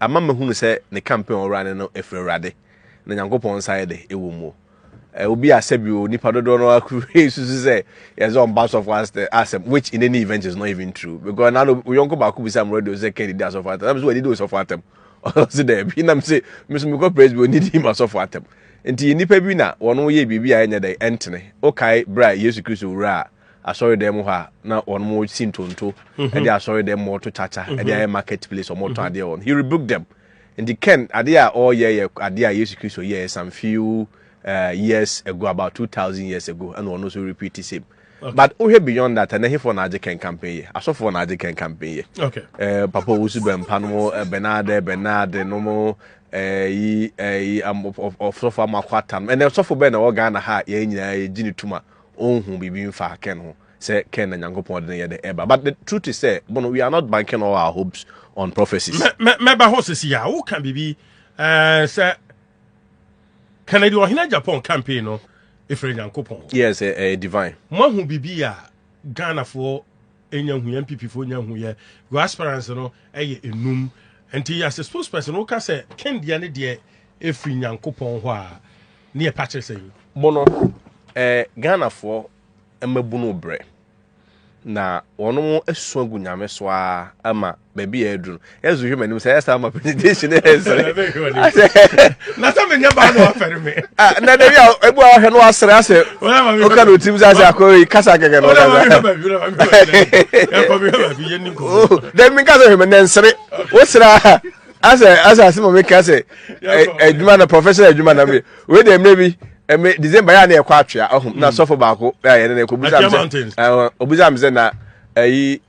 Ama mahunu sɛ ne campaign a ɔwura no no ɛfiri Awurade na Nyankopɔn nsa yɛ de ɛwɔ mu. Ɛ, obi a sɛbi o, nipa dodoɔ no ara kuru susu sɛ yɛdze ɔmba asɔfo ast- asɛm, which in any event is not even true. Because na no, yɔnko baako bisa me radio sɛ kɛdi di asɔfo atam. Na me sɛ wɔde di osɔfo atam. Ɔse dɛbi, na me se, me so mekɔ presby wɔn didi ma asɔfo atam. Nti nnipa bi na wɔn yɛ biribi a ɛnyɛ dɛ, ɛntene. Wokae berɛ a Yesu Kristo wuraa asɔredan mu hɔ a na wɔn si ntonto mhm. ɛde asɔredan mu wɔto kyakya mhm. ɛde ayɛ market place wɔn tɔn mhm. adeɛ wɔn he rebuke them nti ken adeɛ a ɔreyɛ yɛ adeɛ a yesu kristo yɛ some few uh, years ago about two thousand years ago ɛna wɔn nso repeat the same. Okay. But wohwɛ beyond that ɛnɛ hefoɔ na agye kɛn campaign yɛ asɔfoɔ na agye kɛn campaign yɛ okay. uh, papa owusu bɛmpa no mo bɛnaade bɛnaade no mo yi ɔsɔfo amakɔ ata no ɛnɛ sɔfo bɛn na ɛwɔ ghana ha yɛn nyinaa yɛgye ne tuma ɔnhu biribi mfa Ken ho sɛ Ken na Nyankopɔn de ne yɛ de ɛba but the truth is sɛ bono we are not banking all our hopes on prophecies. Mɛba hɔ sisi a woka biribi eh, sɛ Kennedy ɔhene Japan campaign no ɛfiri Nyankopɔn hɔ. Yes, ɛyɛ eh, eh, divine. Moahu biribi a Ghanafoɔ ɛnya hu yɛ MPP foɔ nya hu yɛ your aspirants no ɛyɛ enum nti as a spokesperson woka sɛ Ken deɛ ne deɛ ɛfiri Nyankopɔn hɔ a ne yɛ pakyere sɛ yi. Bono, eh, Ghanafoɔ mmabunu brɛ. Na wɔn mo asu agu nyame so ara ama baabi yɛ aduru no. Yɛ nso hwɛ m'anim sɛ ɛyɛ saa ma presentation ne yɛ nsere. Na sɛ menyɛ baa na wafɛre me. Ah, na dɛbi a ebu a wahwɛ no wasere asɛ. Oka no tim sɛ asɛ akɔ yi kasa kɛkɛ no. Ɔda baabi hwɛ baabi hwɛ baabi yɛ ni nkɔmɔ. Dɛbi mi nkasa hwɛ me nɛ nsere. Wosere aha. asɛ asɛ asɛm a meka sɛ adwuma na professional adwuma na me wei deɛ mmerɛ bi ɛmɛ december yɛ a na yɛkɔ atwea ɔho na mm. sɔfo baako a yɛne no ɛkɔ busa me sɛ na ayi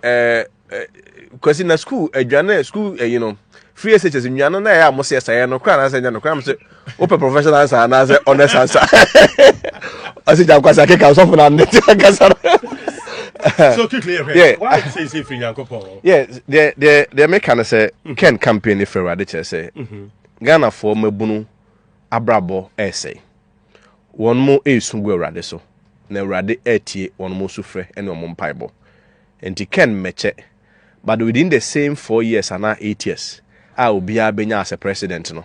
kwasi na school adwane school ayi no free shs nnuane na ɛyɛ a mo sɛ ɛsɛeɛ no koraa na sɛ nyɛ no koraa mo sɛ wopɛ professional ansa anaasɛ honest ansa ɔsɛ gya nkwasa keka ɔsɔfo no ande nti ankasa deɛ meka no sɛ mm-hmm. ken campaign no firi awurade kyerɛ sɛ mm-hmm. ghanafoɔ mabunu abrabɔ ɛresɛe wɔn mo ɛresu gu awurade so na awurade ɛretie wɔn mo so frɛ ne wɔn mpaebɔ nti ken mmɛkyɛ but within the same four years anaa eight years a obiara bɛnya as a president no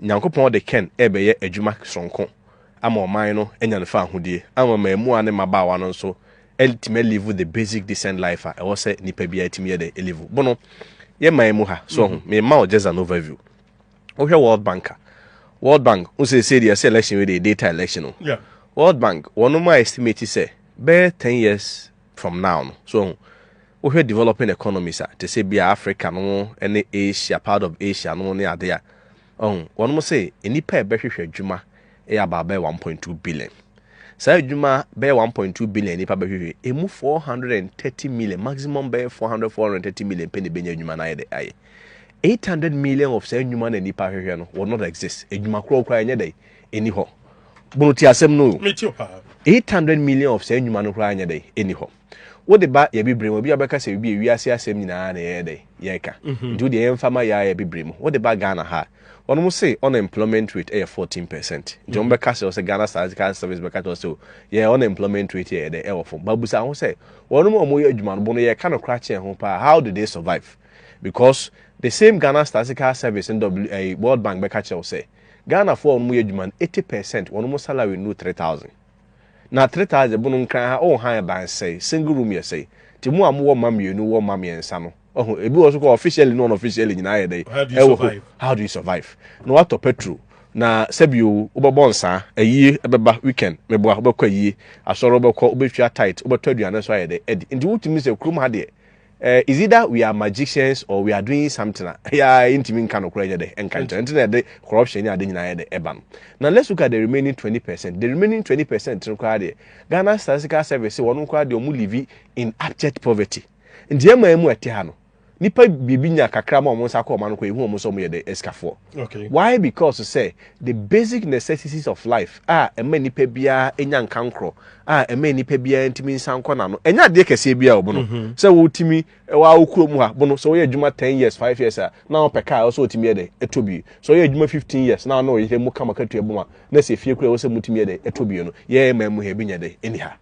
Nyankopɔn de kɛn rebɛyɛ adwuma soronko ama ɔman no anya no faahodie ama mmaamua ne mmabaawa no nso atumi alivu the basic decent life a ɛwɔ sɛ nipa biara tumi yɛ dɛ alivu bono yɛ man mu ha so ɔho mm-hmm. mema wo just an overview wohwɛ world bank a world bank wo sɛ sɛ deɛ sɛ election wei deɛ data election no yeah. world bank wɔnom a estimate sɛ bɛyɛ 10 years from now no. So ɔho? Wohwɛ developing economies a, te sɛ bi a Africa no mo ne Asia, part of Asia no mo ne ade a, ɔho? Wɔn mo se nnipa a ɛbɛhwehwɛ adwuma yɛ about bɛyɛ 1.2 billion. Saa adwuma bɛyɛ 1.2 billion nnipa bɛhwehwɛ, emu 430 million, maximum bɛyɛ 400, 430 million pɛ na ɛbɛnya adwuma no ayɛ dɛ ayɛ. 800 million of saa nnwuma na nnipa hwehwɛ no will not exist. Adwuma korɔ koraa ɛnyɛ dɛ, ɛni hɔ. bono ti asɛm no o eight hundred million of saa nnwuma no koraa nyɛ dɛ ɛni hɔ wode ba yɛ bibire mu obi a bɛka sɛ ebi ewiase asɛm nyinaa na yɛyɛ dɛ yɛka mhm. nti wode yɛmfa ma yɛayɛ bibire mu wode ba Ghana ha wɔn mo se unemployment rate ɛyɛ fourteen percent nti wɔn mhm. bɛka sɛ ɔsɛ Ghana statistical service bɛka sɛ ɔsɛ yɛ unemployment rate yɛ dɛ ɛwɔ fam babusa ho sɛ wɔn mo a wɔyɛ adwuma no bo no yɛka no kora kyɛn ho paa how do they survive because the same Ghana statistical service and eh, World Bank bɛka kyerɛ sɛ Ghanafoɔ a wɔyɛ adwuma no eighty percent wɔnom salary nnuru three thousand. Na three thousand mu no nkran ha oh han ban sɛe, single room yɛ sɛe. Nti mo a mowɔ mma mmienu wɔ mma mmiɛnsa no wahu ebi wɔ so koraa officially ne unofficially nyinaa ayɛ dɛn ɛwɔ hɔ how do you survive na watɔ petrol na sɛbi o wobɛbɔ nsaa ayie ɛbɛba weekend meboa wobɛkɔ ayie asɔre wobɛkɔ wobɛtua tight wobɛtɔ aduane nso ayɛ dɛn adi nti wotumi sɛ kurom ha deɛ Eh, is either we are magicians or we are doing something a ɛyɛ a ɛntumi nka nokorɛ nyɛ dɛ ɛnka nkyerɛ nti na ɛde corruption ne ade nyinaa yɛ dɛ ɛba no na let's look at the remaining twenty percent the remaining twenty percent no koraa deɛ Ghana Statistical Service sɛ wɔn koraa deɛ wɔn live in abject poverty nti ɛma ɛmu ɛte ha no nipa biribi nya kakra ma wɔn nsa kɔ wɔn ano kɔ ehu wɔn sɛ wɔn yɛ dɛ ɛsikafoɔ. Okay. Why? Because sɛ the basic necessities of life a ɛma nipa biara nya nkankorɔ a ɛma nipa biara ntumi nsa nkɔ n'ano ɛnyɛ adeɛ kɛseɛ biara ɔbono mm-hmm. sɛ wotumi ɛwɔ awo kuro mu ha bono sɛ wɔyɛ adwuma ten years five years a na wɔn pɛ kaa ɛwɔ sɛ wotumi yɛ dɛ ɛtɔ bie sɛ wɔyɛ adwuma fifteen years na wɔn ɔyere mu kama katua boma na sɛ efie kura ɛwɔ sɛ mutumi yɛ dɛ ɛtɔ bie no yɛyɛ mmaa mu ha ebi nyɛ dɛ ɛni ha.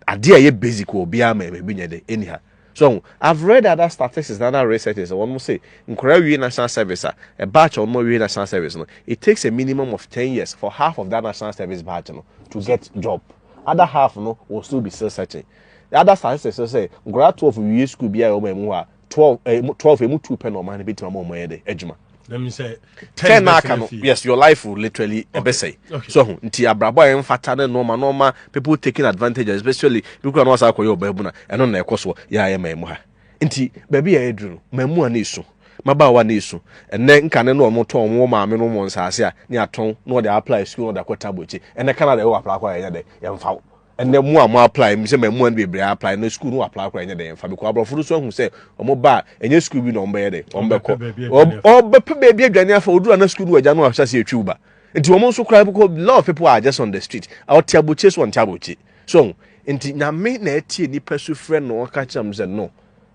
adeɛ a ɛyɛ basic wɔ obiara ma ɛma ebi nyɛ dɛ ɛni ha so ho i've read other statistics na other researches wɔn mo se nkwadaa wie national service a a batch a wɔn awie national service no it takes a minimum of ten years for half of that national service batch no to get job other half no will still be still searching other statistics say nkwadaa twelve wie school bi a wɔn mu hɔ a twelve ɛɛ eh, twelve emu two pɛ na ɔman no betuma ma ɔmo yɛ dɛ adwuma. That means sɛ ten na aka no yes your life will literally ɛbɛsɛe. Okay. So ho nti abrabɔ a ɛnfata ne nɔɔma nɔɔma people taking advantage especially bi kura na wɔasa akɔyɛ ɔbaa bu na ɛno na ɛkɔ soɔ yɛ ayɛ mɛn mu ha. Nti baabi a ɛduru no mɛn mu a na esu mmabaawa na esu ɛnɛ nkane no wɔn tɔn wɔn maame no wɔn nsaase a ne atɔn na wɔde apply school na wɔde akɔ tabo akyi ɛnɛ Canada ɛwɔ apply akɔ a yɛnyɛ dɛ yɛnfa wo. ɛnɛ mo a mo apply mi sɛ ma mo ani bebree apply na school no apply koraa ɛnyɛ dɛ nfa because aborɔfo no so ahu sɛ wɔn ba ɛnyɛ school bi na wɔn bɛyɛ dɛ wɔn bɛkɔ ɔbɛpɛ baabi adwane afa oduru ana school no wɔ agya no ahyɛ ase etwiw ba nti wɔn nso koraa bɛkɔ lot of people are just on the street ɔte abokye so ɔnte abokye so nti nyame na ɛtie nipa su frɛ no ɔka kyerɛ mo sɛ no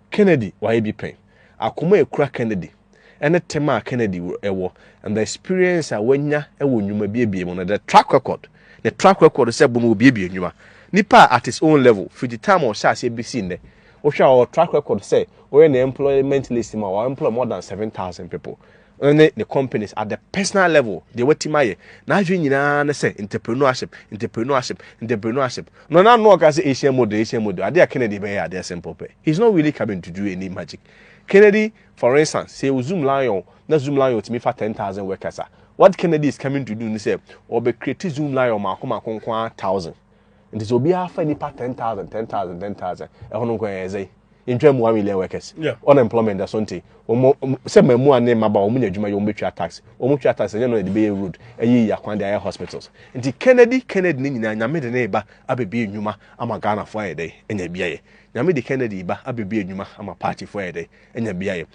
Kennedy wayɛ bi pɛn. akoma a ekura Kennedy ne tema a Kennedy wɔ, and the experience a wanya wɔ nnwuma biebie mu no, the track record, ne track record sɛ bo no obiebie nnwuma. Nipa a at his own level, fiti time a ɔhyɛ aseɛ besi nnɛ, wohwɛ a ɔwɔ track record sɛ ɔyɛ ne employment list mu a, wa employ more than 7,000 people. ne ne companies at the personal level deɛ watim ayɛ n'adwene nyinaa ne sɛ entrepreneurship entrepreneurship entrepreneurship no na no ɔka sɛ asian model asian model adeɛ a kennedy bɛyɛ adeɛ simple pɛ he's not really coming to do any magic kennedy for instance sɛ o zoom lion na zoom lion tumi fa ten thousand workers a what kennedy is coming to do ne sɛ ɔbɛ create zoom lion mako mako nko a thousand nti sɛ obiara fa nipa ten thousand ten thousand ten thousand ɛho no nkɔyɛ ɛdze ntwa mu one million workers yeah. unemployment da so nti wɔn sɛ mmamu a ne mmaba wɔn nyɛ adwuma yɛ wɔn bɛtwa tax wɔn twa tax ɛnyɛ no yɛde bɛyɛ road ɛyɛ yɛ akwan de ayɛ hospitals nti kennedy kennedy ne nyinaa nyame de ne ba abɛbi nnwuma ama ghana fo ayɛ dɛ ɛnyɛ biayɛ nyame de kennedy ba abɛbi nnwuma ama party fo ayɛ dɛ ɛnyɛ biayɛ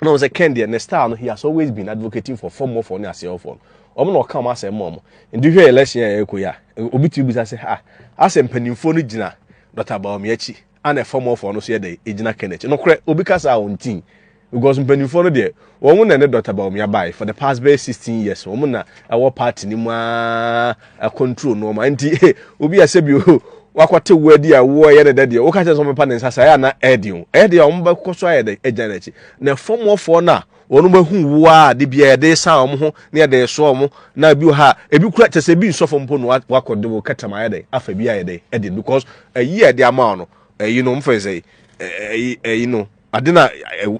na wɔn sɛ ken deɛ ne style no he has always been advocating for fɔmmɔfoɔ ne aseɛɔfoɔ no wɔn na ɔka wɔn asɛm ma wɔn nti hwɛ election a ɛrekɔ yi a obi tumi bisa sɛ ah asɛ mpanimfoɔ no gyina dɔta baomi akyi ana fɔmmɔfoɔ no so yɛ dɛ egyina ken akyi nokorɛ obi kasa a wɔn tin because mpanimfoɔ no deɛ wɔn na ne dɔta baomi abae for the past bɛyɛ sixteen years wɔn na ɛwɔ party ne mu aa control nnoɔma nti obi a sɛbi wakɔte wo adi a woɛyɛ no dɛ deɛ woka kyɛ sɛ ɔmɛpa ne nsa saa ɛyɛ ana ɛde o ɛyɛ deɛ ɔmo bɛkɔ so ayɛ dɛ agya no akyi na fɔmɔfoɔ no a wɔn bɛhu wo a de bia ɛde sa wɔn ho na ɛde so wɔn na ebi wɔ ha ebi kura kyɛ sɛ ebi nsɔfo mpo no wakɔ de wo kɛtɛm ayɛ dɛ afa bi ayɛ dɛ ɛde because ɛyi a ɛde ama wɔn no ɛyi no ɔmo fɛ sɛ ɛyi ɛyi no ade na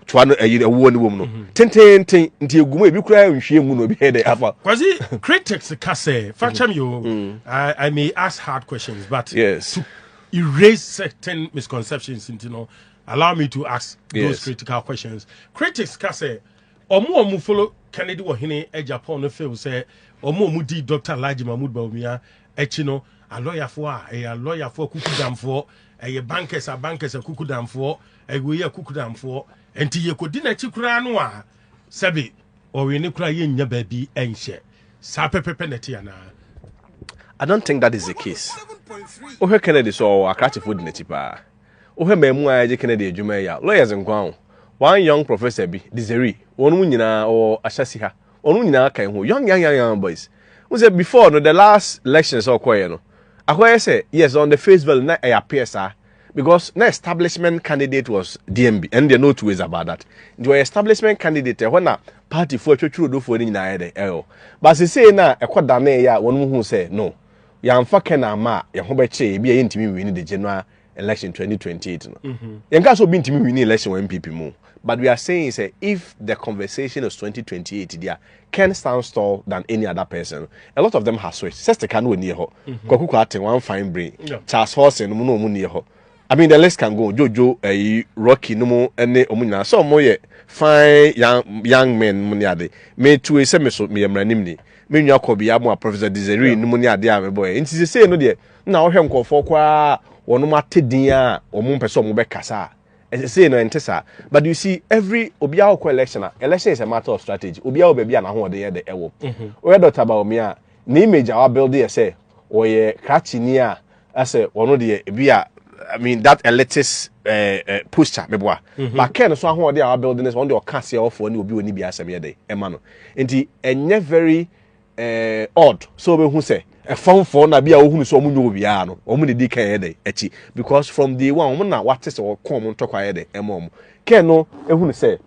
toa no ɛyi ɛwoɔ ne wɔm no mhm. tententen nti egu mu ebi kura nhwie mu na obi yɛ dɛ afa. kwasi critics ka sɛ fakyɛm yi o mm. i may ask hard questions but yes. to erase certain misconceptions nti no allow me to ask yes. those critical questions critics ka sɛ ɔmo ɔmo follow kennedy wɔ hene eh, japan no feel sɛ ɔmo ɔmo di dr alhaji mahmood bawumia Akyi no, alɔyafoɔ a, ɛyɛ alɔyafoɔ akukudamfoɔ, ɛyɛ bankɛs a bankɛs akukudamfoɔ, ɛwei akukudamfoɔ. Nti yɛkɔdi n'akyi koraa no a, sɛbe ɔwene koraa yɛnnya baabi nhyɛ. Saa pɛpɛpɛ na ɛte anaa? I don't think that is the case. Wohwɛ Kennedy so ɔɔ, akrakyefoɔ di n'akyi paa. Wohwɛ mmamu a ɛgye Kennedy adwuma yi a, lawyers nko ara o. One young professor bi, Desiree, wɔnom nyinaa ɔɔ ahyɛse ha, Wɔn nyinaa ka ho young young young young boys. N sɛ before no the last elections a ɔkɔɛ no akɔyɛ sɛ yes on the face value na ɛyɛ appear saa because na establishment candidate was DMB ɛno deɛ no two ways about that nti ɔyɛ establishment candidate ɛhɔ na party foɔ atwatwiri odofoɔ no nyinaa yɛ dɛ ɛyɛ ba sesei na ɛkɔ danee yɛ a wɔn mu hu sɛ no yɛamfa kɛn ama a yɛn ho bɛkyee ebi a yɛntumi nwini de general election 2028 no yɛn ka so obi ntumi win election wɔ npp mu but we are saying sɛ if the conversation is 2028 dia can stand tall than any other person a lot of them have switched sestika no oni hɔ kwaku kwate one fine brain charles horsen no mu no ɔmo ni hɔ I mean the list can go Jojo ɛyi eh, Rocky no mu ɛne ɔmo nyinaa sɛ ɔmo yɛ fine young young men mu ne ade me tue sɛ me so me yɛ mmaranim ni me nua kɔ bia mo a Professor Desiree no mu ne ade a mebɔ yɛ nti sɛ sɛ no deɛ na ɔhwɛ nkurɔfoɔ koraa wɔn ate din a wɔn mpɛ sɛ wɔn bɛkasa a ɛsɛ sei no ɛnte saa but you see every obiara ɔkɔ election a election is a matter of strategy obiara wɔ baabi a n'ahoɔden yɛ de ɛwɔ mhm. ɔyɛ dɔkta baomi a ne image a wabuild yɛ sɛ ɔyɛ krakyini a ɛsɛ ɔno deɛ ebi a I mean that elitist uh, uh, posture meboa mm -hmm. but ken so ahoɔden a wabuild no sɛ ɔno deɛ ɔka aseɛ ɔfoɔ ne obi wɔ ne bi asɛm yɛ de ɛma no nti ɛnyɛ very eh, odd sɛ wobɛhu sɛ ɛfamfoɔ na bi a wohunu sɛ wɔn nyɛ obiara no wɔn na di kan yɛ dɛ akyi because from day one wɔn na wate sɛ wɔkɔn wɔn ntɔkwa yɛ dɛ ɛma wɔn kɛn no ehunu sɛ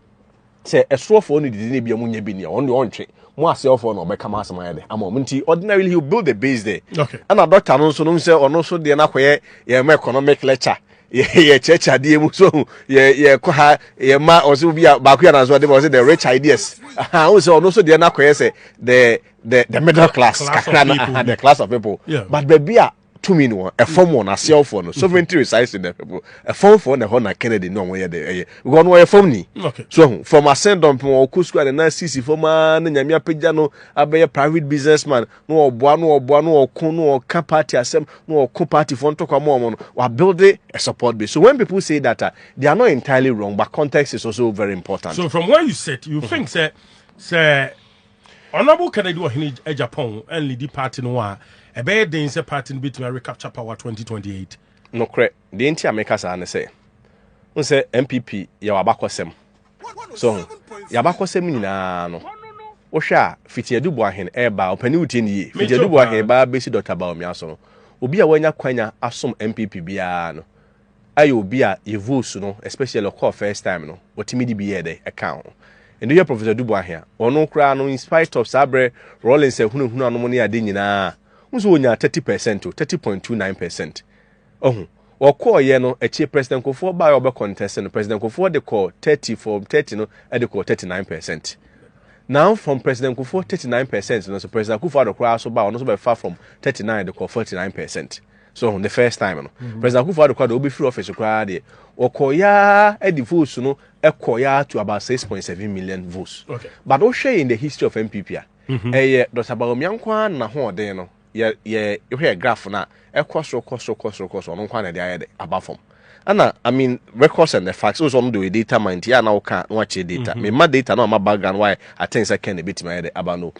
sɛ ɛsoɔfoɔ no didi ne bi a wɔn nyɛ bi nea wɔn deɛ wɔntwe mo aseɛfoɔ na ɔbɛka mo asɛm ayɛ dɛ ama wɔn nti ordinarily he will build a base there okay. ɛna dɔkta no nso no sɛ ɔno nso deɛ no akɔyɛ yɛn economic lecture yɛkyerɛkyerɛ adeɛ mu so yɛkɔ ha yɛma ɔsɛ obi a baako yɛ nanso ɔde ma ɔsɛ the rich ideas wohu sɛ ɔno nso deɛ no akɔyɛ sɛ the the the middle class kakra no the class of people yeah. but baabi a tumi no wɔn ɛfam wɔn aseɛfoɔ no sovereignty resides in the people ɛfamfoɔ na ɛhɔ na kennedy ne ɔmo yɛ de ɛyɛ wɔn wɔyɛ fam ni so ho from asɛn dɔmpem wɔn kɔ sukuu a ne nan sisi fam aa ne nyame apagya no abɛyɛ private businessman na ɔboa na ɔboa na ɔko na ɔka party asɛm na ɔko party fo ntɔkwa ma wɔn no wabuild a support base so when people say that uh, they are not entirely wrong but context is also very important. so from where you sit you mm -hmm. think sɛ sɛ honourable kennedy ɔhene japan and lady party no a ɛbɛyɛ den sɛ party no betumi recapture power 2028. nokorɛ deɛ nti a meka saa ne sɛ n sɛ npp yɛwɔ abakɔsɛm. So ho? Y'abakɔsɛm nyinaa no, wohwɛ a, fiti Aduboahen ɛɛba a, ɔpanin wotie no yie? Fiti Aduboahen ba abɛsi Dɔkta Bawumia so no, obi a w'anya kwanya asom NPP biara no, ayɛ obi a yɛ votes no, especially ɔkɔɔ first time no, ɔtumi de bi yɛɛ dɛ ɛkaa ho. Ɛnde wohwɛ Professor Aduboahen a, ɔno koraa no, in spite of saa berɛ Rawlings ahunahuna nom ne ade nyinaa, wohu sɛ ɔnyaa 30 percent o, 30.29 percent. Ohu. Wɔkɔɔ yɛ no, akyire President Nkofoɔ baa yɛ ɔbɛ kɔntɛse no, President Nkofoɔ de kɔɔ 30 from 30 no de kɔɔ 39 percent. Now from President Nkofoɔ 39 percent no so President Akufo Addo koraa so baa ɔno so bɛfa from 39 de kɔɔ 49 percent. So ohu, the first time no. Mm -hmm. President Akufo Addo koraa de ɔbɛfiri office koraa deɛ, wɔkɔɔ yɛ de votes no kɔɔ yɛ to about 6.7 million votes. Okay. But wohwɛ in the history of MPP a, ɛyɛ Dr. Bawumia nko ara na ho ɔden no. yɛ yɛ hwɛ graph na ɛkɔ soro kɔ soro kɔ soro kɔ soro ɔno nkwa na ɛde ayɛ de aba fam ɛna i mean records and the facts o sɛ ɔno de ɔyɛ data man ti a na ɔka na wakyerɛ data mm -hmm. mema data na ɔma background why i think sɛ kɛn na ebetumi ayɛ de aba no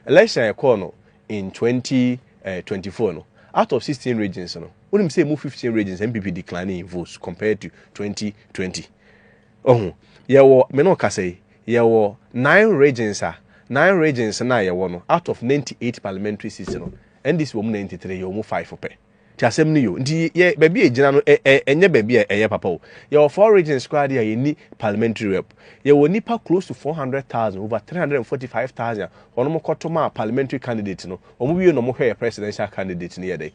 election a ɛkɔɔ no in 2024 eh, no out of 16 regions no wonim sɛ emu 15 regions npp declining in votes compared to 2020 Oho, yɛwɔ, me ne wo kasa yi, yɛwɔ nine regions a, nine regions no a yɛwɔ no, out of ninety eight parliamentary seats no, NDC wɔ mu ninety three, yɛwɔ mu five pɛ. Nti asɛm no ye o. Nti yɛ, baabi a yɛgyina no, ɛ, ɛ, ɛnyɛ baabi a ɛyɛ papa o. Yɛwɔ four regions koraa deɛ a yɛnni parliamentary rep. Yɛwɔ nnipa close to four hundred thousand, over three hundred and forty five thousand a wɔn kɔto maa parliamentary candidate no, wɔn wie na wɔhwɛ yɛ presidential candidate no yɛ dɛ.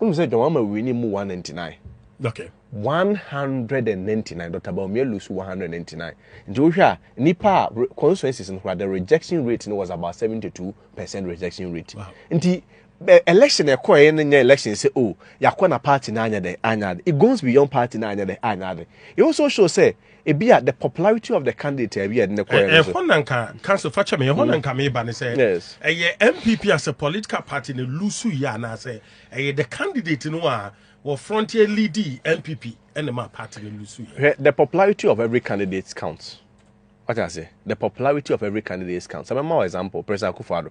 Wonim sɛ John Wama wini mu 199. Okay. 199, Dr. Bawumia Lusu 199. Nti wohwɛ a, nipa a constituencies no koraa, the rejection rate no was about 72 percent rejection rate. Wow. Nti election ɛkɔɛ no nyɛ election sɛ o oh, yakɔ na party no anyɛ dɛ anyɛ ade it goes beyond party no anyɛ dɛ anyɛ ade it also show sɛ ebi a the popularity of the candidate a ebi a ɛde ne kɔɛ eh, no eh, so. ɛhɔ na nka council fa kyɛ me ɛhɔ na mm. nka meba ne sɛ Yes. ɛyɛ mpp as a political party ne lusu yɛ anaasɛ ɛyɛ the candidate no a wɔ frontier leading mpp ɛne ma party ne lusu yɛ Hwɛ, The popularity of every candidate counts. What I say? The popularity of every candidate counts. I'm a example, President Akufo-Addo.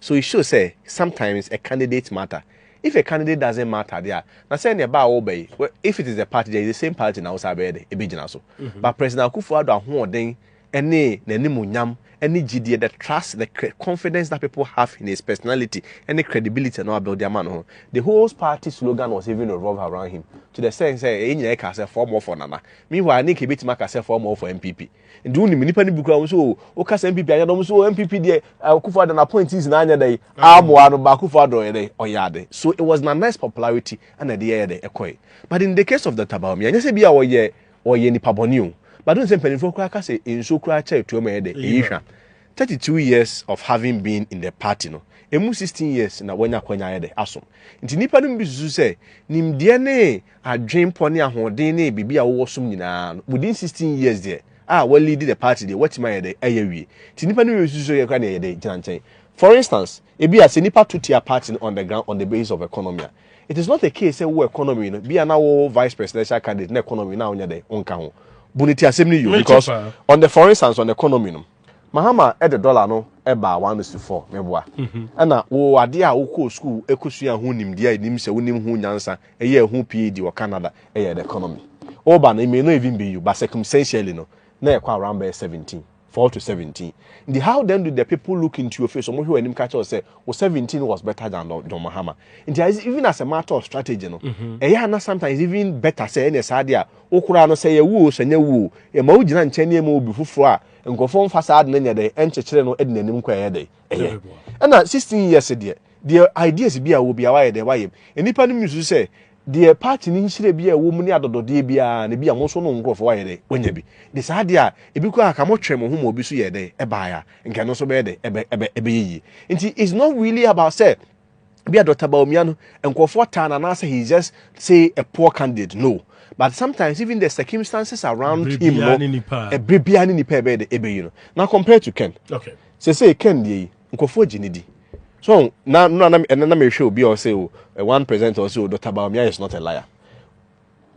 So it shows sɛ sometimes a candidate matter? If a candidate doesn't matter deɛ a, na sɛ ɛneɛ ba a woba yi, well, if it is the party deɛ, it's the same party na wosan bɛyɛ dɛn? Ɛbɛgyina so. But President Akufo-Addo ahoɔden ne n'animuonyam ne gyidie, the trust, the cre, confidence that people have in his personality ne credibility a na wabuilde ama ne ho, the whole party slogan was even revolve around him to the sense sɛ yɛn nyinaa kaa sɛ four more for Nana. Meanwhile, na nka yɛbɛtumi aka sɛ four more for NPP. nti wo nim nipa no bi kura wɔn so o o kasa npp anyɛ dɔm so o npp deɛ akufo adɔ na appointees na anyɛ dɛ aboa no ba akufo adɔ yɛ dɛ ɔyɛ ade so it was na nice popularity ɛna ɛde yɛyɛ dɛ ɛkɔɛ but in the case of the tabaomi ɛnyɛ sɛ bi a ɔyɛ ɔyɛ nipa bɔne o but n sɛ mpanimfoɔ koraa ka sɛ nsuo koraa kyɛ tuo ma yɛ dɛ ɛyi hwa thirty two years of having been in the party no emu sixteen years na wanya kwanya yɛ dɛ asom nti nipa no bi susu sɛ nimdeɛ ne adwenpɔ ne ahoɔden ne biribi a wowɔ som nyinaa no within 16 years deɛ a wɔleadi the party deɛ wɔatumi ayɛ dɛ ayɛ wie nti nnipa no wie susu yɛ kora ne ɛyɛ dɛ gyina nkyɛn for instance ebi a sɛ nnipa to tia party no on the ground on the basis of economy a it is not a case sɛ wo economy no bi a na wo vice presidential candidate na economy na wonyɛ dɛ wonka ho bu ne ti asɛm no yio because on the for instance on the economy no Mahama de dɔla no baa w'anosi fɔ meboa ɛna wo adeɛ a wokɔɔ sukuu kɔsua ho nimdeɛ a ɛnim sɛ wonim ho nyansa yɛɛ ho PhD wɔ Canada yɛ the economy woba no it may not even be you but circumstantially no na ɛkɔ around bɛyɛ 17 4 to 17 nti how then do the people look into your face wɔn hwɛ w'anim ka kyerɛ wo sɛ wo 17 was better than John Mahama nti even as a matter of strategy no ɛyɛ ana sometimes even better sɛ ɛne saa adeɛ a wo koraa no, sɛ ɛyɛ wo oo, sɛ ɛnyɛ wo oo, yɛma wo gyina nkyɛn na yɛma obi foforɔ a, nkurɔfoɔ mfa saa ade no nyɛ dɛn, nkyekyere no de n'anim kɔ a ɛyɛ dɛn? Ɛyɛ. Ɛna 16 years deɛ, deɛ ideas bi a ɛwɔ biara wayɛ dɛn? Wayɛ mu. Nnipa no misusu sɛ, deɛ party no nhyira bi a ɛwɔ mu ne adɔdɔdeɛ biara no, ebia mo nso no nkurɔfoɔ wayɛ dɛn? Wanya bi. De saa adeɛ a, ebi koraa ka motwee mo ho ma obi so yɛɛ dɛn? Ɛbaeɛ a, nka ɛno nso bɛyɛ dɛn? Ɛbɛ, ɛbɛ, ɛbɛyɛ yie. Nti, it's not really about sɛ, Be a Dr. Bawumia no, nkurɔfoɔ taa no anaasɛ he is just say a poor candidate. No. But sometimes even the circumstances around him no, ɛbere biara ne nipa ɛbɛyɛ de ɛbɛyi no. Na compare to Ken. Okay. Sɛ sɛ Ken deɛ yi, nkurɔfoɔ gye ne di. So na na na ɛna na mehwɛ obi a ɔsɛ o, one presenter ɔsɛ o, Dr. Bawumia is not a liar.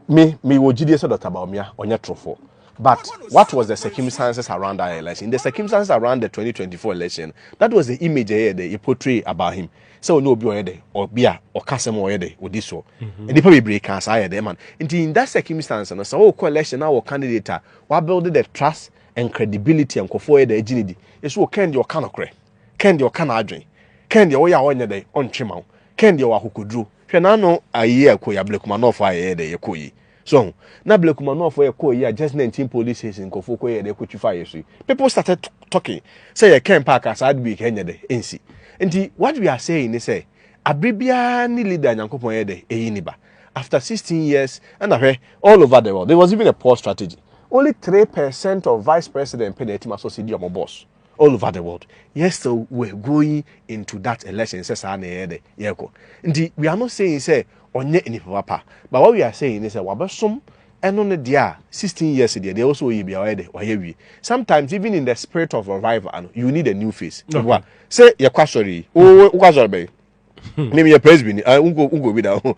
Me, me wɔ gyidie sɛ Dr. Bawumia, ɔnyɛ torofo. But what was the circumstances around that election? The circumstances around the 2024 election, that was the image ɛyɛ dɛ, yɛ portray about him. Sɛ ɔnyɛ obi ɔyɛ dɛ, ɔbi a ɔka sɛm ɔyɛ dɛ, ɔdi soɔ. Mm-hmm. Nnipa bebree kaa saa yɛ dɛ, man. Nti in that circumstance no, sɛ ɔkɔ election na wɔ candidate a, wabuild the trust and credibility nkɔfoɔ yɛ dɛ agyi ne di. Ɛso wɔ kɛn deɛ ɔka nokorɛ, kɛn deɛ ɔka n'adwen, kɛn deɛ ɔyɛ a ɔnyɛ dɛ, ɔntwe ma wo. Ken deɛ ɔwɔ akokoduro. Hwɛ n'ano ayie a ɛkɔ yi a Blekumanɔfoɔ a yɛyɛ dɛ yɛkɔ yi. So ahu? Na Blekumanɔfoɔ yɛkɔɔ yi a just 19 police station nkurɔfoɔ kɔyɛɛ dɛ kɔtwi faa yɛso yi. People started talking sɛ yɛ Ken paa ka saa ade wei ka ɛnyɛ dɛ ɛnsi. Nti what we are saying ne sɛ aberɛ biara ne leader a Nyankopɔn yɛ dɛ ɛyi ne ba. After 16 years ɛna hwɛ all over the world there was even a poll strategy only 3% of vice president pɛ na atumi asɔsedi wɔn boss. all over the world yet still we're going into that election sɛ saa na yɛyɛ dɛ yɛkɔ nti we are not saying sɛ ɔnyɛ nipa papa but what we are saying ne sɛ wabɛsom ɛno ne deɛ a 16 years deɛ deɛ wɔsɛ ɔyɛ bia ɔyɛ dɛ ɔyɛ wie sometimes even in the spirit of revival ano you need a new face ɛboa sɛ yɛkɔ asɔre yi wokɔ asɔre bɛyi Hmm. ne meyɛ presby ni ah, wonkɔ bi da ho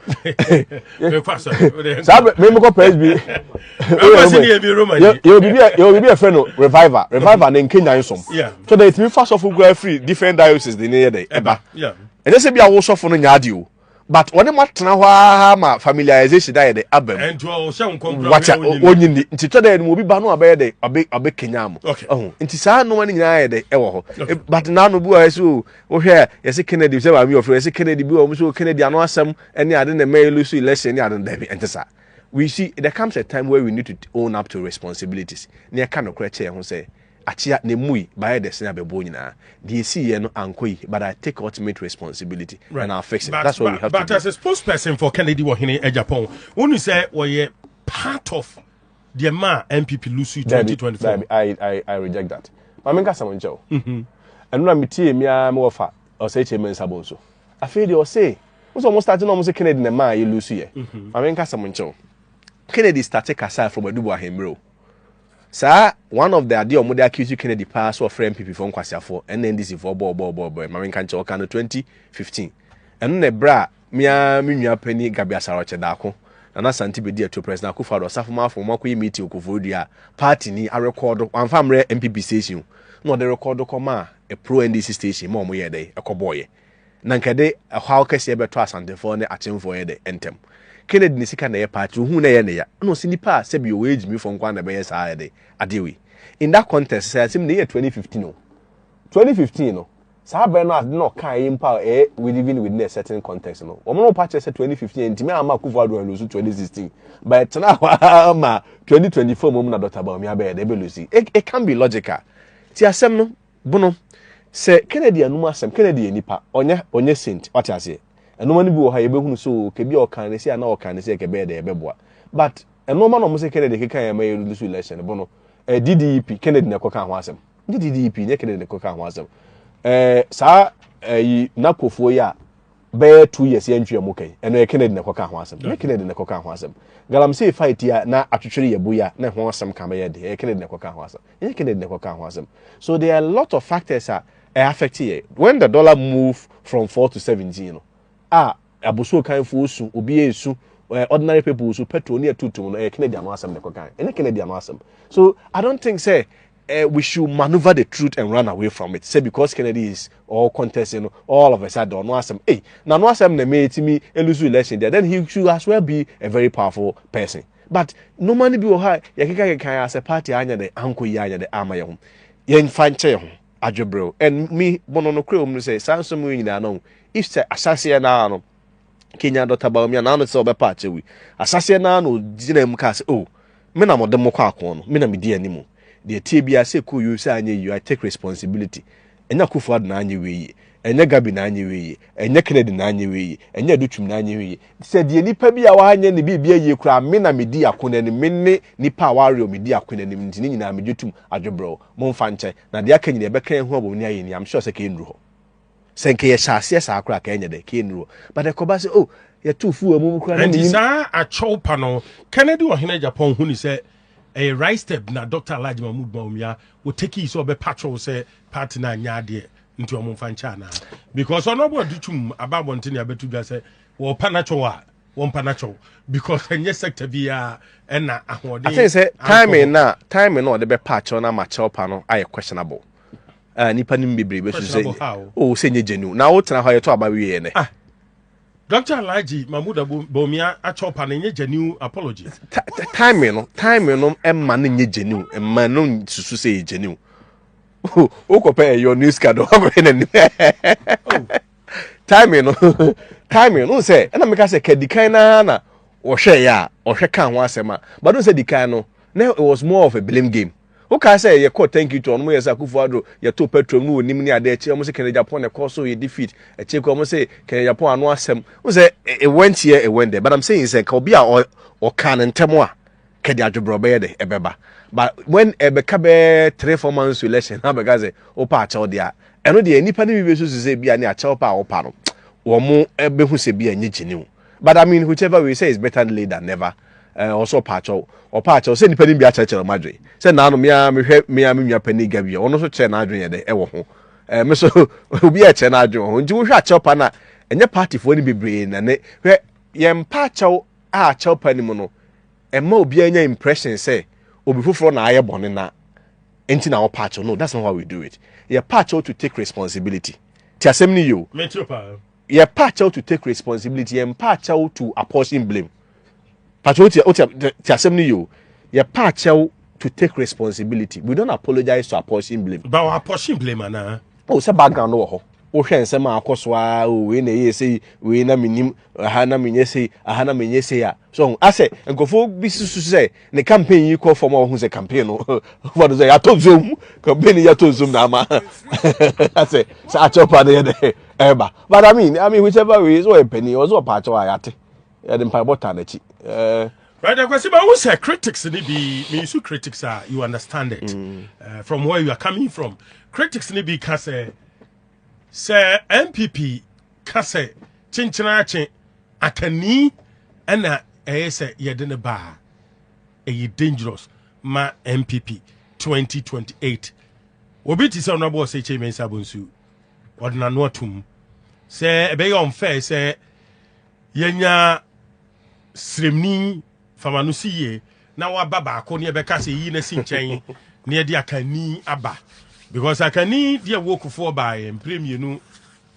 saa memekɔ presby yɛwɔ biribi a ɛfrɛ no reviver reviver ne nkenya nsom so dɛ ɛtumi fa sɔfo kura firi different diocese de ne yɛ dɛ ɛba ɛnyɛ sɛ bi a wo sɔfo no nya ade o but wɔne mo atena hɔ ara ma familiarization ayɛ dɛ aba mu wata wɔnyi ni nti tɔ dɛ ɛnum obi ba no abɛyɛ dɛ ɔbɛ ɔbɛ kenya mo ɔho nti saa nnoma no nyinaa yɛ dɛ ɛwɔ hɔ but naanu bi wɔ hɔ ɛsɛ o Wohwɛ a yɛse Kennedy sɛ maame ɔfrɛ yɛse Kennedy bi wɔ hɔ so Kennedy ano asɛm ne ade na ɛma yɛlusu election ne ade no daabi ɛnte saa we see there comes a time where we need to own up to responsibilities na yɛka nokorɛ kyɛ yɛn ho sɛ akyea na emu yi bayɛ dɛsɛn abɛboɔ nyinaa deɛ esi yɛ no ankɔ yi but I take ultimate responsibility right. and I'll fix it but, that's what but, we have but to do. But as a spokesperson for Kennedy wɔ hene Japan wonu sɛ wɔyɛ part of deɛ maa npp lusu 2024 I, I, I reject that ma menka sɛm nkyɛ o mhm. ɛno na metie me ara me wɔfa ɔsɛ kyɛ me nsabɔ nso afei deɛ ɔse wo sɛ ɔmo starte na ɔmo se kennedy na maa yɛ lusu yɛ mhm. ma menka sɛm nkyɛ o kennedy starte kasa from adubu ahemmerɛ o saa one of the adeɛ ɔmo de accuse kennedy paa so ɔfrɛ npp fo nkwasiafoɔ ɛna ndc foɔ bɔɔbɔɔbɔɔbɔɔ ma menka nkyɛ ɔka no 2015 ɛno na ɛberɛ a Me ara me nua panyin Gabi Asare-Ɔkyɛ da ako, Nana Asante bedi atuo, President Akufo-Addo, Ɔsafo Marfo wɔn akɔyɛ meeting wɔ Koforidua a paatini arekɔɔdo, wɔamfa ammrɛ NPP station o, na wɔde rekɔɔdo kɔmaa pro NDC station ma wɔyɛɛ dɛn ɛkɔbɔɔeɛ. Na nka ɛde ɛhaw kɛseɛ bɛtɔ Asantefoɔ ne Akyemfoɔ yɛ dɛ ntɛm. Kennedy ne sika na ɛyɛ paati, ohuu na ɛyɛ ne ya, ɛna ɔse nnipa a sɛbi ɔwɔ age mifoɔ nko ara na ɛbɛyɛ saa yɛ dɛ adeɛ wei. In that context, sɛ asɛm no yɛ 2015 o, 2015 no, Saa bere no ade na ɔkae yi mpo a ɛyɛ living within a certain context no, wɔn no pa kyerɛ sɛ 2015 antumi amma Akufo Addo anlusu 2016, but ɛtenaa hɔ ara ma 2024 mmom na Dɔkta Bawumia bɛyɛ dɛ ɛbɛlusi. It can't be logical. Tie asɛm no, Bono, sɛ Kennedy anom asɛm, Kennedy yɛ nipa, ɔnyɛ, ɔnyɛ saint, wate aseɛ. Nnoɔma no bi wɔ hɔ a yɛbɛhunu sɛ oo, kɛbi a ɔkaa no sei anaa ɔkaa no sei a kɛbɛyɛ dɛ ɛbɛboa. But nnoɔma na wɔn sɛ Kennedy kekaeɛ ma yɛlusu election no, Bono, ɛɛ DDEP, Kennedy na ɛkɔkaa ho asɛm. nye DDP nye Kennedy ne kɔka ho asɛm ɛɛ saa ɛyi nakofoɔ yi a bɛyɛ two years yɛn ntwi ɛmo kɛn ɛno yɛ Kennedy na kɔka ho asɛm nye Kennedy na kɔka ho asɛm galamsey fight yi a na atwitwere yɛ bo yi a na ɛho asɛm ka bɛyɛ de ɛyɛ Kennedy na kɔka ho asɛm nye Kennedy na kɔka ho asɛm so there are a lot of factors a ɛyɛ affect yɛ when the dollar move from four to seventeen no a Abosuo kanfoɔ su, obiara resu, ordinary people nso petrol ne ɛtu tum no ɛyɛ Kennedy ano asɛm na ɛkɔ kan, ɛnyɛ Kennedy ano asɛm. So I don't think sɛ uh, we should maneuver the truth and run away from it. Say because Kennedy is all contesting, you know, all of a sudden, no asem. Hey, now no asem na me me lose election there. Then he should as well be a very powerful person. But no money be oha. Yakika kika as a party anya de anko ya anya de ama yehum. Yen fan che yehum. adwebrɛw and me bono no kura omunu sɛ saa nsɛm wei nyinaa no if sɛ asaseɛ naa no Kenya Dɔkta Bawumia naa no sɛ ɔbɛpa akyɛ wei asaseɛ naa no gyina mu kaa sɛ oh me na mode mo kɔ akɔn no me na medi anim deɛ tie biara sɛ kɔ yio sɛ anyɛ yio I take responsibility ɛnyɛ Akufo Addo na anyɛ wei yie ɛnyɛ Gabi na anyɛ wei yie ɛnyɛ Kennedy na anyɛ wei yie ɛnyɛ Adutwum na anyɛ wei yie sɛ deɛ nipa bi a wanyɛ ne biribi ayie koraa me na medi ako no anim me ne nipa a warew medi ako no anim nti ne nyinaa megye tum adwebrɛw Mo nfa nkyɛ, na deɛ aka nyina yɛ bɛka ahu abom ne ayɛ ni, am sure sɛ kee nnuru hɔ. Sɛ nka yɛ hyɛ aseɛ saa koraa a, ka ɛnyɛ dɛ, kee nnuru hɔ. But ɛkɔba sɛ oh, yɛ too fuel amu mu koraa na menim. Nti saa akyɛw pa no, Kennedy ɔhene Japan hu ni sɛ ɛyɛ Rice-Teb na Doctor Alhaji Mahmood Bawumia wɔ takii sɛ ɔbɛ patrol sɛ party no anyɛ adeɛ nti ɔmo nfa nkyɛ anaa? Because ɔno ɔbɔ adi twum aba abɔntene abɛto dwa sɛ wɔɔpa n'akyɛw a wɔn mpa n'akyɛw because ɛnyɛ sector biara ɛna ahoɔden. I think sɛ timing na timing na ɔde bɛ pa akyɛw na ama akyɛw pa no ayɛ questionable ɛɛ nipa nim bebree bɛ susu sɛ o sɛ nye genuine na o tena hɔ yɛ to aba wie yɛ nɛ. Ah, Dr. Alhaji Mahmoud Bawumia akyɛw pa no nye genuine apology. timing no timing no ɛma no nye genuine ɛma no susu sɛ yɛ genuine o kɔ pɛ ɛyɔ news card ɔkɔ yɛ n'anim. timing no timing no sɛ ɛna meka sɛ kadikan na na ɔhwɛ yɛ a ɔhwɛ ka ho asɛm a but no sɛ dikan no na it was more of a blame game wokaa sɛ yɛkɔ thank you to ɔnom yɛ sɛ akufo adro yɛto petrol no wɔnim ne adeɛ akyire ɔmo sɛ kɛnɛ japan na ɛkɔ so yɛ defeat akyire kɔ ɔmo sɛ kɛnɛ japan ano asɛm wo sɛ it went here it went there but i'm saying sɛ nka obi a ɔka no ntɛm a kɛde adwobrɛ ɔbɛyɛ dɛ ɛbɛba but when ɛbɛka bɛyɛ three four months to election na bɛka sɛ wopɛ akyɛw deɛ a ɛno deɛ nnipa no bi bɛsusu sɛ bi a ne akyɛw pɛ a wopa no wɔn bɛhu sɛ bi a nyɛ gyiniw but I mean whichever way say it's better late than never ɔsɛ ɔpa akyɛw ɔpa akyɛw sɛ nnipa no bi akyerɛkyerɛ wɔn adwene sɛ naano mea mehwɛ mea me nua panyin gabi a ɔno nso kyerɛ n'adwene yɛ dɛ ɛwɔ ho ɛɛ me so obi a ɛkyerɛ n'adwene wɔ ho nti wohwɛ akyɛw pa na ɛnyɛ partyfoɔ no bebree na ne hwɛ yɛn mpa akyɛw a akyɛw pa no mu no Ɛmma obiara nya impression sɛ obi foforɔ na ayɛ bɔne na nti na ɔpa akyɛw. No, that's not how we do it. Yɛpa akyɛw to take responsibility. Ti asɛm no yie o. Mekyerɛ paa. Yɛpa akyɛw to take responsibility. Yɛmpa akyɛw to apportion blame. Pakyɛw ti o ti asɛm no yie o. Yɛpa akyɛw to take responsibility. We don't apologize to apportion blame. Ba wɔ apportion blame anaa? O sɛ background no wɔ hɔ. Wohwɛ nsɛm a akɔ so a o wei na ɛyɛ sei wei na menim aha na menyɛ sei aha na menyɛ sei a So ɔho asɛ nkurɔfoɔ bi susu sɛ ne campaign yi kɔ fam a ɔho sɛ campaign no ɔfa no sɛ yɛatɔ nsuom campaign yi yɛatɔ nsuom na ama asɛ sɛ akyɛw pa no yɛ dɛ ɛba but I mean I mean whichever way so ɔyɛ panin ɔsɛ ɔpa akyɛw a yɛate yɛde mpaebɔ taa n'akyi ɛɛ. Right, Akwasi, but who say critics ni bi, me use critics are, you understand it, mm. uh, from where you are coming from. Critics ni bi ka say, say MPP ka say, chinchina chin, Atani na ɛyɛ sɛ yɛde ne baa. Ɛyɛ dangerous ma MPP 2028. Obi te sɛ Honorable Oseche Mensah Bonsu. Ɔde n'ano atum sɛ ɛbɛyɛ unfair sɛ yɛnya sremni fama no si yie na waba baako ne ɛbɛka sɛ yi na si nkyɛn ne ɛde akanni aba because akanni deɛ wokufoɔ baeɛ mprɛ mmienu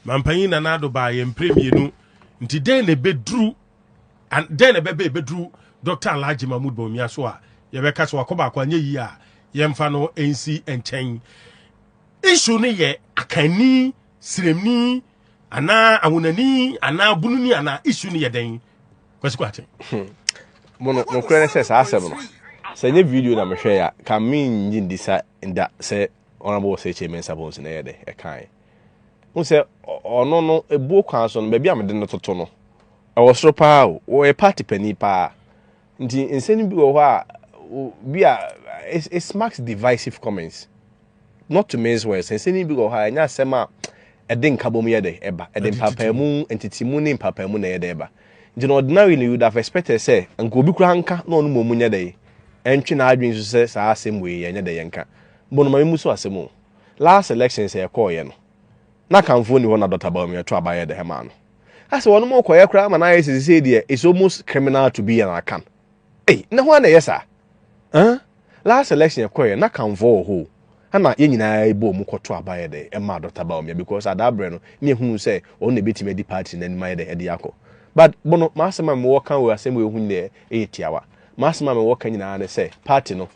Mampanyin Nana Addo baa yɛn mprɛ mmienu nti dɛn na ɛbɛduru dɛn na ɛbɛbɛ ɛbɛduru Dr. Alhaji Mahmood Bawumia so a yɛbɛka sɛ wakɔ baako anyɛ yie a yɛmfa no nsi nkyɛn. Issue no yɛ akanni, siremni, anaa awonani, anaa bununi, anaa issue no yɛ dɛn? Kwasi Kwakye. Hmm. Mono, nokorɛ ne sɛ saa asɛm no, sɛ nyɛ video na mehwɛ ya, ka menyi ndi sa nda sɛ Honorable Osei Kyei Mensah Bonsu na ɛyɛ dɛ ɛkae. Wohu sɛ ɔno no, ebuo kwan so no, baabi a mede no toto no, ɛwɔ soro paa o. Wɔyɛ party panin paa. Nti nsɛm no bi wɔ hɔ a, bi a, it, it marks divisive comments. Not to mince words. Nsɛm no bi wɔ hɔ a, ɛnyɛ asɛm a ɛde nkabom yɛ dɛ ɛba. Ɛde mpapaamu, ntitimu ne mpapaamu na ɛyɛ dɛ ɛba. Nti na ordinary no, you would have expected sɛ, nka obi koraa nka na ɔno mmom nyɛ dɛ, ɛntwe n'adwene so sɛ saa asɛm wei yɛnyɛ dɛ yɛnka. Mbɔ no ma memu so asɛm o. Last elections a ɛkɔɔeɛ no, na Akanfoɔ nni hɔ na Doctor Bawumia to aba yɛɛ dɛhɛmaa no. Asɛ wɔnom rekɔyɛ koraa ma no ayɛ sɛ sesei deɛ it's almost criminal to be an Akan. Ei, na hwan na ɛyɛ saa? Huh? Last election ɛkɔeɛ na Akanfoɔ wɔ hɔ o, ɛna yɛn nyinaa bɔɔ mu kɔto aba yɛ dɛn ɛmaa Doctor Bawumia because adaa berɛ no ne yɛhunuu sɛ ɔno na ɛbɛtumi adi party no anim ayɛ dɛn ɛde akɔ. But Bono, m'asɛm a mewɔ ka wɔ asɛm wei ho nyinaa ɛyɛ tiawa. M'asɛm a mewɔ ka nyinaa ne sɛ party no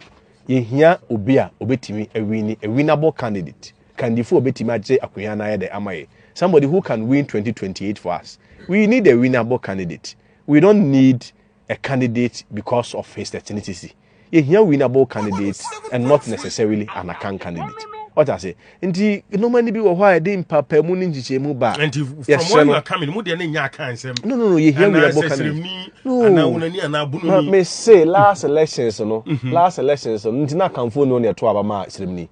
Yɛhia obi a ɔbɛtumi awini, a winnable candidate, kandifoɔ a ɔbɛtumi agye akonya no ayɛ dɛ ama yɛn, somebody who can win 2028 for us. We need a winnable candidate. We don't need a candidate because of his ethnicity. Yɛhia winnable candidate and not necessarily an Akan candidate. Ɔte ase? nti nneɛma no bi wɔ hɔ a ɛde mpaapaemu ne nkyekyɛmu ba a nti from yɛsrɛ where you no are coming mu deɛ ne nyɛ akan nsɛm no no no yɛhia anaa werɛbɔ ka no sɛsrɛmni anaa no wonani anaa ma bononi me se last elections no last elections no nti na akanfoɔ ni ɔne ɛto aba ma sremni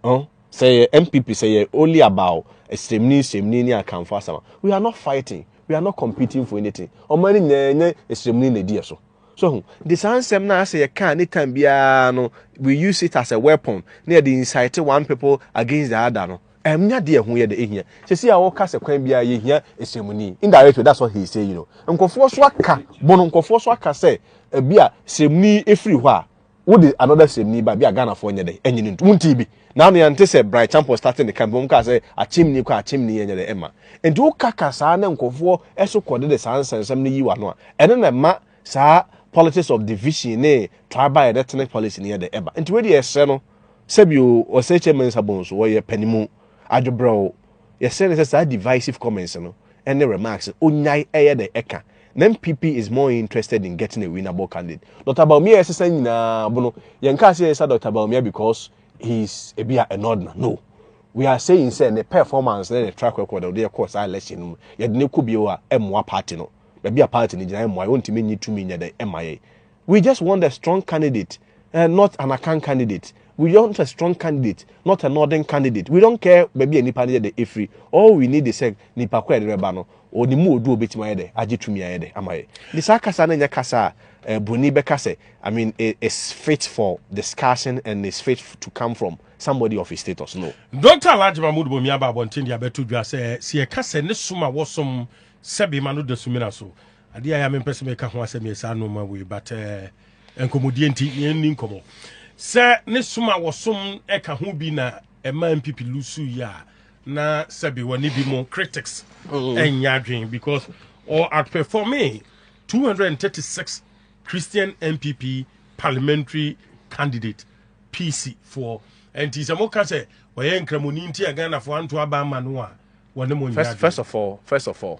Ɔn? sɛ yɛ mpp sɛ yɛ only about sremni sremni ne akanfoɔ asɛm a we are not fighting we are not competing for anything ɔman no nyinaa nyɛ sremni na ɛdi yɛ so So hu? Nti saa nsɛm no a sɛ yɛka anytime biara no, we use it as a weapon na yɛde incite one people against the other no, ɛnyɛ adeɛ ɛho yɛ dɛ ɛhia. Sɛsi a wɔka sɛ kwan biara yɛhia ɛsrɛmuni, indirectly that's what he is saying, you know. Nkurɔfoɔ so aka, bono nkurɔfoɔ so aka sɛ ɛbi a srɛmuni ɛfiri hɔ a, wode another sɛmni ba bi a ghanafoɔ nyɛ dɛ ɛnye no ntu wontii bi naano yɛnte sɛ bright champon starting ne camp wɔn kaa sɛ akyemni kɔ akyemni ɛnyɛ dɛ ɛma nti woka ka saa na nkɔfoɔ ɛso kɔde de saa nsɛnsɛm no yi wano a ɛno na ɛma saa politics of division ne tribal and ethnic policy no yɛ dɛ ɛba nti wei deɛ ɛsrɛ no sɛbi o ɔsɛ kyɛmɛ nsa bɔn so wɔyɛ panimu adwobrɛw Yɛsrɛ no sɛ saa divisive comments no ne remarks no ɔnyae ɛyɛ dɛn ɛka. Na NPP is more interested in getting a winnable candidate. Doctor Bawumia yɛsesa nyinaa bo no yɛnkaa sɛ yɛsesa Doctor Bawumia because he is ebi a ɛnordna no. We are saying sɛ ne performance ne ne track record a ɔde yɛ kɔɔ saa election no mu yɛde no kɔ bio a ɛmmoa party no. Baabi a party no gyina ɛmmoa yɛ, ɔntumi nyi tumi nyɛ dɛn ɛma yɛn. We just want a strong candidate. Eh, not an Akan candidate. We want a strong candidate, not a northern candidate. We don't care baabi a nipa no yɛ dɛ efiri. All we need is sɛ nipa ko a yɛde bɛba no, ɔnim mu odu a obetumi ayɛ dɛ agye tumi ayɛ dɛ ama yɛ. Nti saa kasa no nyɛ kasa a eh, broni bɛka sɛ, I mean, eh, is fit for discussion and is fit to come from somebody of his status. No. Dɔkta Alhaji Mahmood Bawumia aba abɔnten de abɛto dwa sɛ, sɛ yɛka sɛ ne som a wɔsom sɛ bema no da sumina so Adeɛ a ɛyɛ a mempɛ sɛ meka ho asɛm yɛ saa nnoɔma wei but uh, nkɔmmɔdie nti yɛnni nkɔmmɔ sɛ ne som a wɔsom ɛka ho bi na ɛma mpp lusu yi a na sɛbe wɔne bi mo critics mm. ɛnyɛ adwene because or outperforming 236 christian mpp parliamentary candidate pc foɔ ɛnti sɛ moka sɛ ɔyɛ nkramoni nti a ghanafoɔ anto aba ama no a wɔne mo nyɛ adwene first of all first of all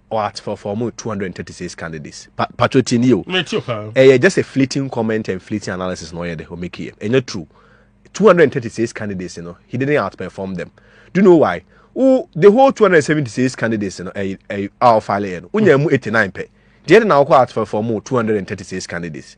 ɔat for for ɔmo two hundred and thirty six candidates pa patro ti ni o ɛyɛ just a fleeting comment and fleeting analysis na ɔyɛ de ɔmeki yɛ ɛnyɛ true two hundred and thirty six candidates no he didn't outperform them do you know why wo the whole two hundred and seventy six candidates no ɛyɛ ɛyɛ a ɔfile yɛ no wonya mu eighty nine pɛ deɛ de na ɔkɔ outperform two hundred and thirty six candidates.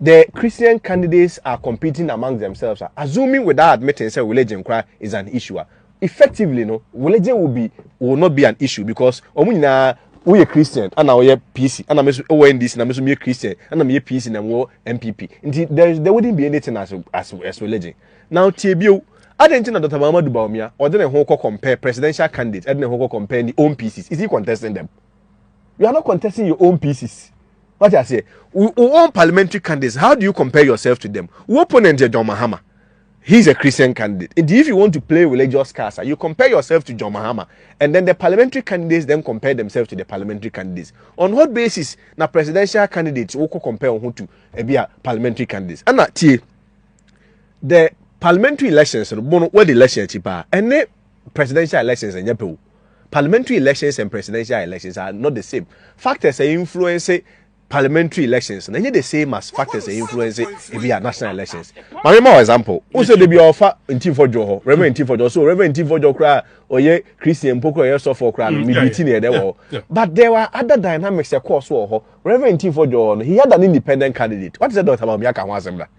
The Christian candidates are competing amongst themselves a, assuming without admitting sɛ religion koraa is an issue a, effectively no, religion will be will not be an issue because wɔn nyinaa woyɛ Christian ɛna woyɛ PC ɛna me nso wɔ NDC na me nso meyɛ Christian ɛna meyɛ PC na mewɔ NPP nti there there wouldn't be anything as as as religion now tie bio adɛn nti na Dr. Mahamadou Bawumia ɔde ne ho kɔ compare presidential candidates ɛde ne ho kɔ compare ne own PCs is he contesting them you are not contesting your own PCs. wate aseɛ wo own parliamentary candidates how do you compare yourself to them wo opponent yɛ john mahama he's a christian candidate and if you want to play religious cards you compare yourself to john mahama and then the parliamentary candidates then compare themselves to the parliamentary candidates on what basis na presidential candidates wo compare wo to ebi a parliamentary candidates ɛna tie the parliamentary elections no bono what election akyi paa ɛne presidential elections ɛnyɛ pɛ o Parliamentary elections and presidential elections are not the same. Factors a influence parliamentary elections na ɛnyɛ the same as factors a influence ebi a national elections. Maame ma example, o sɛ debi ɔfa ntinfo dwo hɔ, reverend ntinfo dwo, so reverend ntinfo dwo koraa ɔyɛ Christian mpo koraa ɔyɛ sɔfo koraa no, mm, mebi ti na ɛdɛ wɔ hɔ. But there were other dynamics ɛkɔɔ so wɔ hɔ. Reverend ntinfo dwo hɔ no, he had an independent candidate. What is that Dr. Bawumia ka ho asɛm da?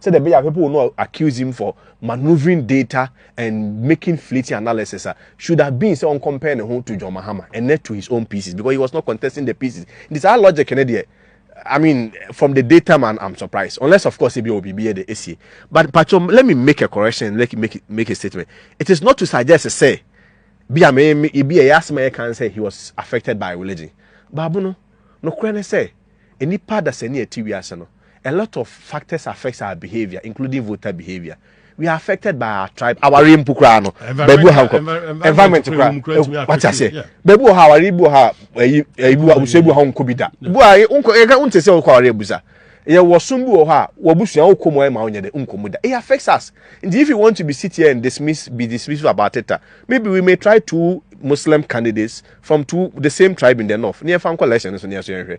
sɛdeɛ ɛbɛyɛ a people will not accuse him for manoeuvring data and making fleeting analysis a should have been sɛ ɔncompare ne ho to John Mahama and not to his own pieces because he was not contesting the pieces nti saa logic no deɛ I mean from the data man I'm surprised unless of course ebi wɔ biribi yɛ de esie but pacho let me make a correction let me make, make a statement it is not to suggest sɛ bi a me ebi a ɛyɛ asɛm a yɛka sɛ he was affected by religion baabu no nokorɛ ne sɛ nnipa dasani a ɛte wiase no a lot of factors affects our behavior including voter behavior we are affected by our tribe awari mpo koraa no baabi wɔ ha nkɔ environment koraa wate aseɛ baabi wɔ ha awari bi wɔ ha ɛyi ɛyi bi wɔ abusua bi wɔ ha nkɔ bi da bu a nkɔ yɛka nte sɛ ɔkɔ awari abusa yɛ wɔ som bi wɔ hɔ a wɔbusua wokɔ mu ma wonyɛ dɛ nkɔ mu da it affects us and if you want to be sit here and dismiss be dismissive about it uh, maybe we may try two muslim candidates from two the same tribe in the north ne yɛfa nkɔ election no so ne yɛso yɛnhwɛ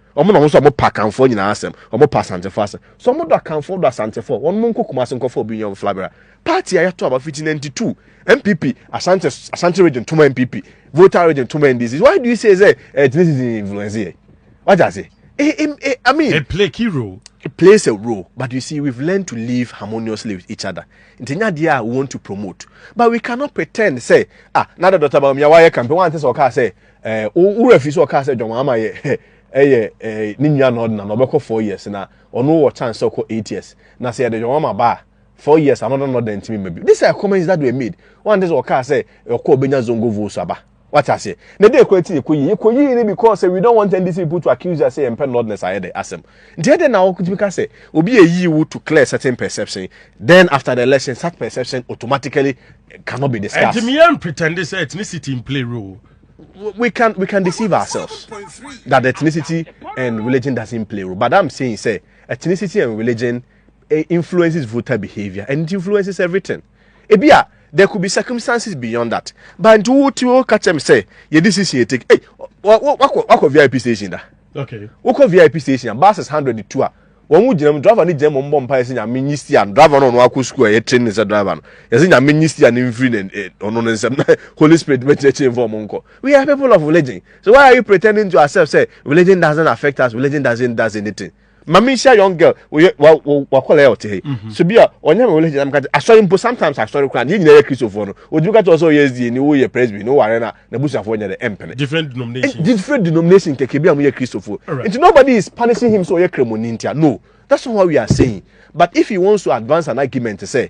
Wɔn na wɔn nso a wɔpa Akanfoɔ nyinaa asɛm, wɔpa Asantefoɔ asɛm. So wɔdɔ Akanfoɔ, wɔdɔ Asantefoɔ? Wɔn nkɔ Kumasi nkɔfa obi nyɛ wɔn flabera. Party a yɛato aba fiti 92, NPP, Asante, Asante region toma NPP, Volta region toma NDC. Why do you say sɛ ethnicity eh, influence yɛ? Wagye ase? Eh, eh, eh, I mean, it play key role. It plays a role, but you see, we've learned to live harmoniously with each other. Ntinyadiya we want to promote, but we cannot pretend say ah, now the daughter Bawumia why campaign one thing okay say Eh, wo wura fi sɛ ɔkaa sɛ John Mahama yɛ ɛyɛ eh, ne nua na ɔdena na ɔbɛkɔ four years na ɔno wɔ chance sɛ ɔkɔ eight years na sɛ yɛde John Mahama ba a four years another na ɔdena ntumi ma bi these are comments that were made wɔn ante sɛ ɔkaa sɛ ɔkɔ ɔbɛnya zongo votes aba wate aseɛ na ɛdɛ ɛkɔ ɛti yɛkɔ yie yɛkɔ yie ne because we don't want NDC people to accuse us sɛ yɛmpɛ nordness ayɛ dɛ asɛm Nti ɛdɛn na wotumi ka sɛ obi ayi wo to clear certain perception then after the election such perception automatically cannot be discussed. Ɛnti meyɛ pretend sɛ ethnicity in play role. We can we can deceive ourselves that ethnicity and religion doesn't play role but I'm saying sɛ ethnicity and religion eh, influences voter behavior and it influences everything. Ebi a there could be circumstances beyond that but nti wo ti wo ka kyɛm sɛ yɛ decision yɛ take. Hey, wakɔ wakɔ VIP station da. okay wokɔ vip station a buses hundred tu a wɔn mu gyina mu driver ne gyina mu mbɔ mpa yɛsɛ nyame nyi stia no driver no ɔno akɔ sukuu a yɛ train ne sɛ driver no yɛsɛ nyame nyi stia no mfiri ne eh, ɔno ne nsɛm na holy spirit bɛkyerɛkyerɛ mfa ɔmo nkɔ we are people of religion so why are you pretending to accept say religion doesn't affect us religion doesn't does anything ma mi nhyia young girl wɔyɛ wa wɔ wakɔla yɛ ɔte he mhm. so bi a ɔnyɛ mi wele gyina mi ka asɔre mpo sometimes asɔre kora ne yɛ nyinaa yɛ kristofoɔ no ɔtumi ka kyerɛ sɛ ɔyɛ sda ni woyɛ presby ni woware na na busuafoɔ nyɛ dɛ ɛmpene different denomination different denomination kɛkɛ bi a moyɛ kristofo nti nobody is punishing him sɛ ɔyɛ kremoni ntia no that's not what we are saying but if he wants to advance an argument sɛ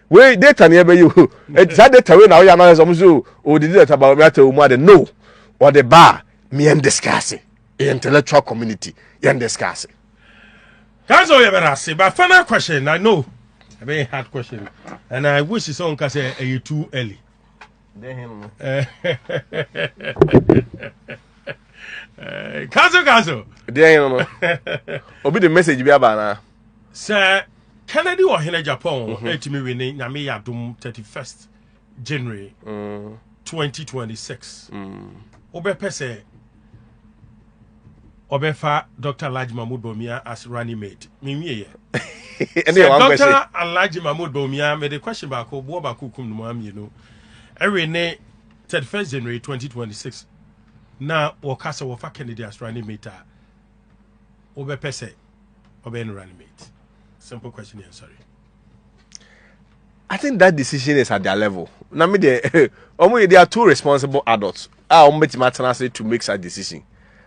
wei data ne ɛbɛyɛ o ɛti saa data wei na ɔyɛ anaa sɛ ɔmo sɛ o ɔdidi data ba ɔmo ata ɔmo ade no ɔde ba a mìɛn discuss yɛ intellectual community yɛn discuss. kansa ɔyɛ bɛrɛ ase ba final question na no ɛbɛyɛ hard question and i wish sɛ ɔnka sɛ ɛyɛ too early. kansa kansa. deɛ yɛn no obi de message bi aba anaa. sɛ kennedy wɔ hene japan hɔ mhm. ɛtumi we ne nyame yɛ adom 31st january 2026 mm. mm. wobɛpɛ sɛ ɔbɛfa dr alhaji mahmud bawumia as running mate menwieɛ sɛ dr alhaji mahmud bawumia mede question baako boɔ baako kum no mu amienu ɛwe ne 31st january 2026 na wɔka sɛ wɔfa kennedy as running mate a wobɛpɛ sɛ ɔbɛyɛ no running mate simple question yɛn sɔre I think that decision is at their level. Na me there, they are two responsible adults. Ah, um, bet my tenase to make such decision.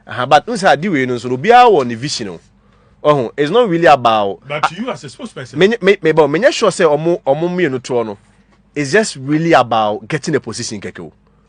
Uh, but unsa adi we no so no be our ne vision. Oh, oh it's not really about. But to you as a spokesperson. Me me me but me sure say omo omo me no to no. It's just really about getting a position keke.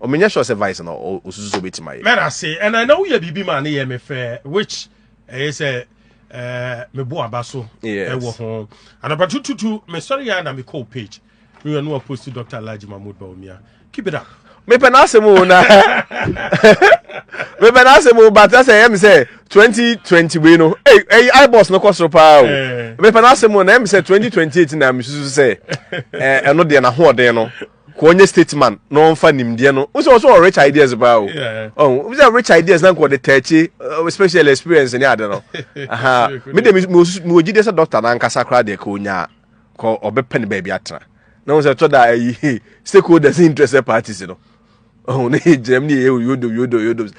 Oh me nyɛ sure sɛ vice na osusu sɛ obetumi ayɛ. Mɛda se ɛna na woyɛ biribi ma ne yɛ me fɛ which ɛyɛ sɛ ɛɛ me bo aba so ɛwɔ ho. Anapa tututu me sɔre ya na me kɔ page me yɛ no a post Dr. Alhaji Mahmoud Bawumia. Keep it up. Me pɛ n'asɛm o na me pɛ n'asɛm o but ɛsɛ ɛyɛ mi sɛ twenty twenty wei no ɛyi ɛyi ibos no kɔ soro paa o eh. me pɛ n'asɛm o na ɛyɛ mi sɛ twenty twenty eight na mi susu sɛ ɛɛ eh, ɛno deɛ n'ahoɔden no kɔ ɔnyɛ stateman na ɔnfa nimdeɛ no wosɛ ɔsɛ ɔ rich ideas paa o ɔn obi sɛ rich ideas na nka ɔde tɛɛkye uh, special experience ne ade no aha me de mi wɔ gyidie sɛ doctor na ankasa koraa deɛ ka onyaa kɔ ɔbɛpɛ ne baabi atena na wɔn sɛ tɔ da ayi eh, stakeholders interested parties no ɔn ne gyinam ne yɛ yodo yodo yodo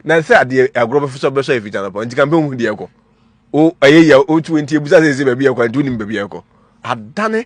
na sɛ adeɛ agorɔ bɛfo sɛ ɔbɛsɔ efi gyana pɔ nti kan bɛ hu deɛ kɔ o ɛyɛ yɛ o tu nti ebusa sɛ ɛsɛ baabi yɛ kɔ nti o nim baabi yɛ kɔ adane